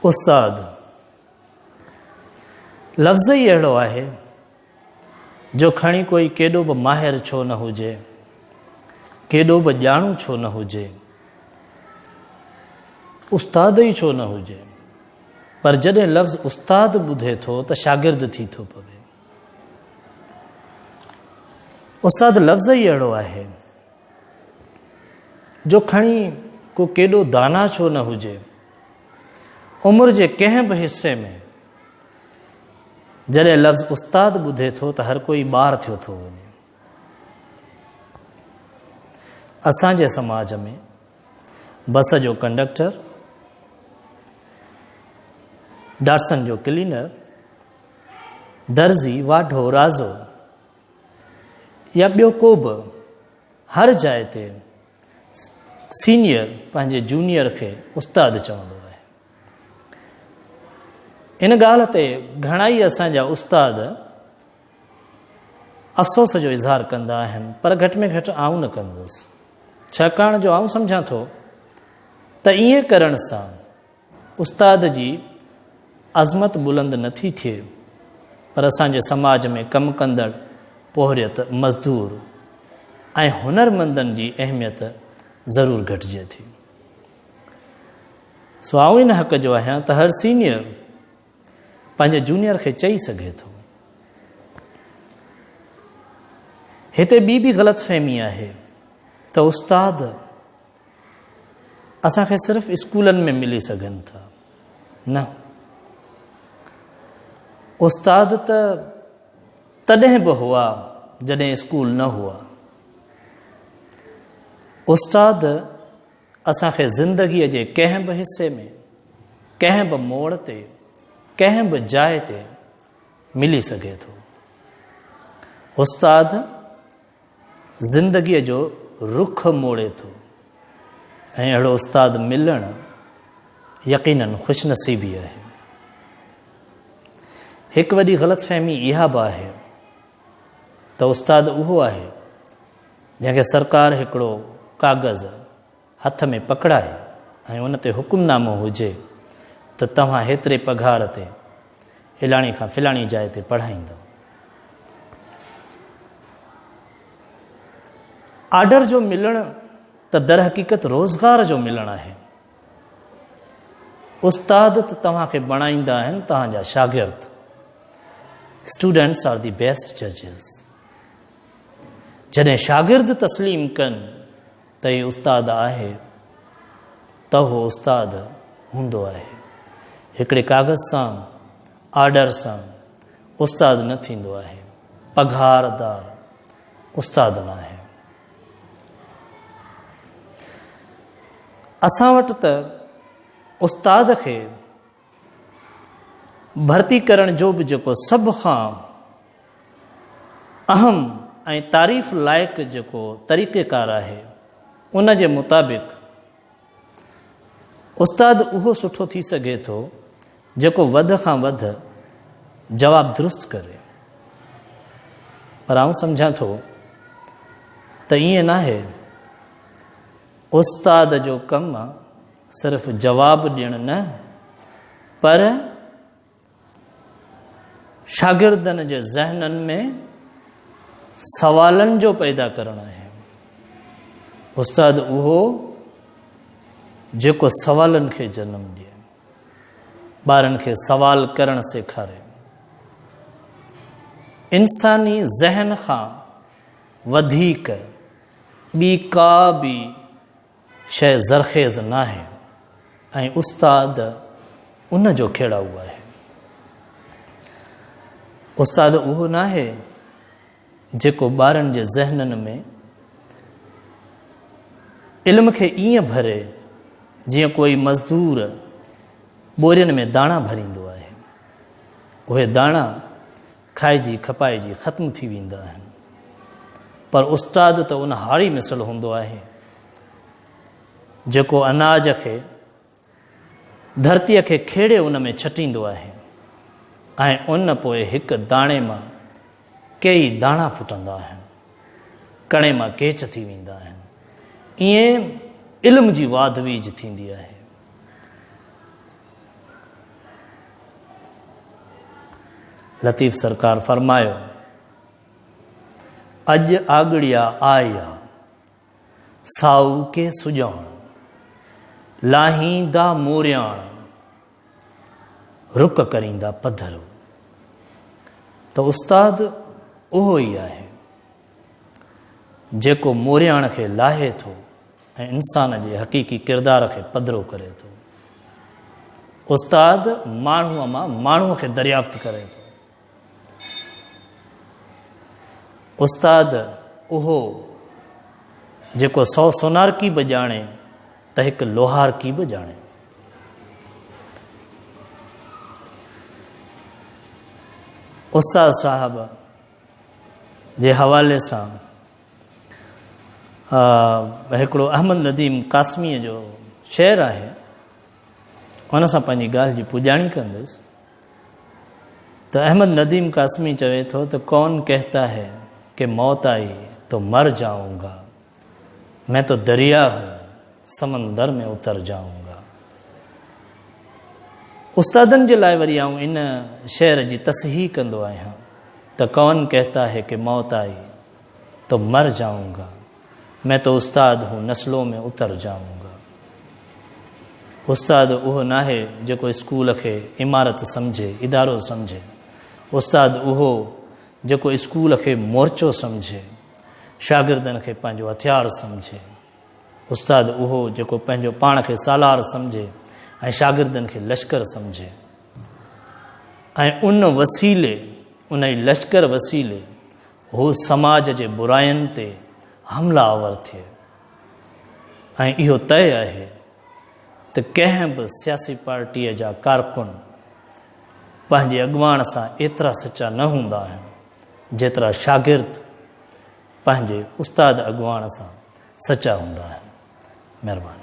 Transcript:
استاد لفظ ئي اهڙو آهي جو کڻي ڪوئي ڪيڏو به ماهر ڇو نه هجي ڪيڏو به ڄاڻو ڇو نه هجي استاد ئي ڇو نه هجي پر جڏهن لفظ استاد ٻڌي ٿو ته شاگرد ٿي ٿو پوي استاد لفظ ئي اهڙو آهي جو کڻي ڪو ڪيڏو دانا ڇو نه هجي، عمر جي ڪنهن به حصي ۾ جڏهن لفظ استاد ٻڌي ٿو ته هر ڪوئي ٻار ٿيو ٿو وڃي. اسان جي سماج ۾ بس جو ڪنڊڪٽر ڊاٽسن جو ڪلينر درزي واڍو رازو يا ٻيو ڪو به هر جاء تي سينيئر پنهنجي جونيئر کي استاد چوندو آهي. ان ڳالهه تي گهڻائي اسان جا استاد افسوس جو اظهار ڪندا آهن پر گهٽ ۾ گهٽ آئون نه ڪندس ڇاڪاڻ جو آئون سمجهان ٿو ته ائين ڪرڻ سان استاد جي عظمت بلند نه ٿي ٿئي پر اسان جي سماج ۾ ڪم ڪندڙ پورهيت، مزدور ۽ هنرمندن جي اهميت ضرور گهٽجي ٿي. سو آئون ان حق جو آهيان ته هر سينيئر پنهنجي جونيئر کي چئي سگهي ٿو. هتي ٻي به غلط فهمي آهي ته استاد اسان کي صرف اسڪولن ۾ ملي سگهن ٿا نه استاد ته تڏهن به هئا جڏهن اسڪول نه هئا استاد اسان کي زندگيء جي ڪنهن به حصي ۾ ڪنهن به موڙ تي ڪنهن به جاء تي ملي سگهي ٿو استاد زندگيء جو رخ موڙي ٿو ۽ اهڙو استاد ملڻ يقيناً خوش نصيبي آهي. هڪ وڏي غلط فهمي اها به آهي ته استاد اهو آهي جنهن کي سرڪار هڪڙو ڪاغذ هٿ ۾ پڪڙائي ۽ ان تي حڪم نامو هجي ته توهان هيتري پگهار تي فلاڻي کان فلاڻي جاء تي پڙهائيندؤ. آرڊر جو ملڻ ته درحقيقت روزگار جو ملڻ آهي. استاد ته توهان کي بڻائيندا آهن توهان جا شاگرد. اسٽوڊنٽس آر دي بيسٽ ججز. جڏهن شاگرد تسليم ڪن تئين استاد آهي ته اهو استاد هوندو آهي. هڪڙي ڪاغذ سان، آرڊر سان، استاد نه ٿيندو آهي. پگهار دار استاد ناهي. اسان وٽ ته استاد کي ڀرتي ڪرڻ جو به جيڪو سڀ کان اهم ۽ تعريف لائق جيڪو طريقيڪار آهي ان جي مطابق استاد اهو سٺو ٿي سگهي ٿو جيڪو وڌ کان وڌ جواب درست ڪري پر آئون سمجهان ٿو ته ائين ناهي استاد جو ڪم صرف جواب ڏيڻ نه پر شاگردن جي ذهنن ۾ سوالن جو پيدا ڪرڻ آهي استاد اهو جيڪو سوالن کي جنم ڏي ٻارن کي سوال ڪرڻ سيکاري انساني ذهن کان وڌيڪ ٻي ڪا به شيء زرخيز ناهي ۽ استاد ان جو کيڙائو آهي. استاد اهو ناهي جيڪو ٻارن جي ذهنن ۾ علم کي ائين ڀري جيئن ڪوئي مزدور ٻورين ۾ داڻا ڀريندو آهي. اهي داڻا کائجي کپائجي ختم ٿي ويندا آهن پر استاد ته ان هاري مثل هوندو آهي جيڪو اناج کي ڌرتي کي کيڙي ان ۾ ڇٽيندو آهي ۽ ان پوء هڪ داڻي مان ڪيئي داڻا ڦٽندا آهن ڪڻي مان ڪيچ ٿي ويندا آهن ائين علم جي واڌ ويج ٿيندي آهي لطيف سرڪار فرمايو، اڄ آڳڙيا آئي آ، سائو ڪي سڄاڻ، لاهيندا مورياڻ، رڪ ڪريندا پڌرو. ته استاد اهو ئي آهي، جيڪو مورياڻ کي لاهي ٿو، ۽ انسان جي حقيقي ڪردار کي پڌرو ڪري ٿو. استاد ماڻهوء مان ماڻهوء کي دريافت ڪري ٿو. استاد اهو جيڪو سو سونار ڪي به ڄاڻي ته هڪ لوهار ڪي به ڄاڻي. استاد صاحب جي حوالي سان اها هڪڙو احمد نديم قاسميء جو شعر آهي، ان سان پنهنجي ڳالهه جي پڄاڻي ڪندس ته احمد نديم قاسمي چوي ٿو ته ڪون ڪهتا هي ڪي موت آئي تو مر جاؤن گا مين تو دريا هون سمندر ۾ اتر جاؤن استادن جي لاء وري آئون ان شعر جي تصحيح ڪندو آهيان ته ڪون ڪهتا هي ڪي موت آئي تو مر جائون گا مين تو استاد هون نسلون ۾ اتر جائون گا استاد اهو ناهي جيڪو اسڪول کي عمارت سمجهي ادارو سمجهي استاد اهو جيڪو اسڪول کي مورچو سمجهي شاگردن کي پنهنجو هٿيار سمجهي استاد اهو جيڪو پنهنجو پاڻ کي سالار سمجهي ۽ شاگردن کي لشڪر سمجهي ۽ ان وسيلي ان لشڪر وسيلي هو سماج جي براين تي حملا آور ٿئي ۽ اهو طئي آهي ته ڪنهن به سياسي پارٽيء جا ڪارڪن پنهنجي اڳواڻ سان ايترا سچا نه هوندا آهن جيترا شاگرد پنهنجي استاد اڳواڻ سان سچا هوندا آهن مهرباني